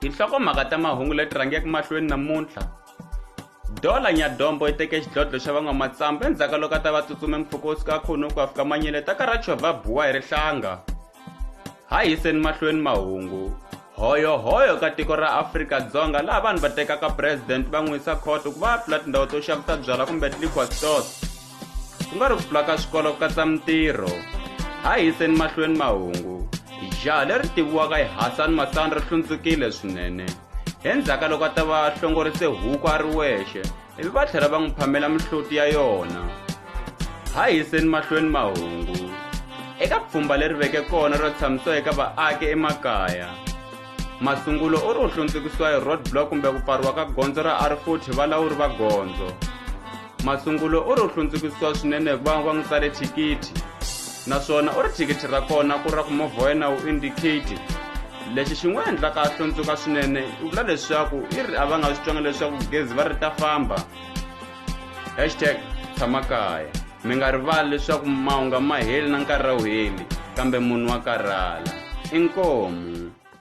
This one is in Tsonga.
tinhlokomhaka ta mahungu leti rhangeke mahlweni namuntlha dola nyadombo yi teke xidlodlo xa van'wamatsambu endzhaku ka loko a ta va tsutsume mpfhuka wo suka khunu ku afika manyele ta karacho va buwa hi rihlanga ha yiseni mahlweni mahungu hoyohoyo ka tiko ra afrika-dzonga laha vanhu va tekaka president va n'wi yisa khoto ku va ya pfula tindhawu to xavisa byala kumbe liquor stores ku nga ri ku pfula ka swikolo ku katsa mintirho ha yiseni mahlweni mahungu jaha leri tiviwaka hi hasani masani ri hlundzukile swinene endzhaka loko a ta va hlongorise huku a ri wexe ivi va tlhela va n'wi phamela mihloti ya yona ha yiseni mahlweni mahungu eka pfhumba leri veke kona ro tshamisiwa eka vaaki emakaya masungulo u ri u hlundzukisiwa hi road block kumbe ku pfariwa ka gondzo ra r40 valawuri va gondzo masungulo u ri u hlundzukisiwa swinene hikuva va n'wi tsale thikithi naswona u ri thikithi ra kona ku ra ku movha wa yena wu indicate lexi xi n'wi endlaka a hlundzuka swinene i vula leswaku i ri a va nga swi twanga leswaku gezi va ri ta famba hashtag tshama kaya mi nga rivali leswaku mahunga ma heli na nkarhi a wu heli kambe munhu wa karhala inkomu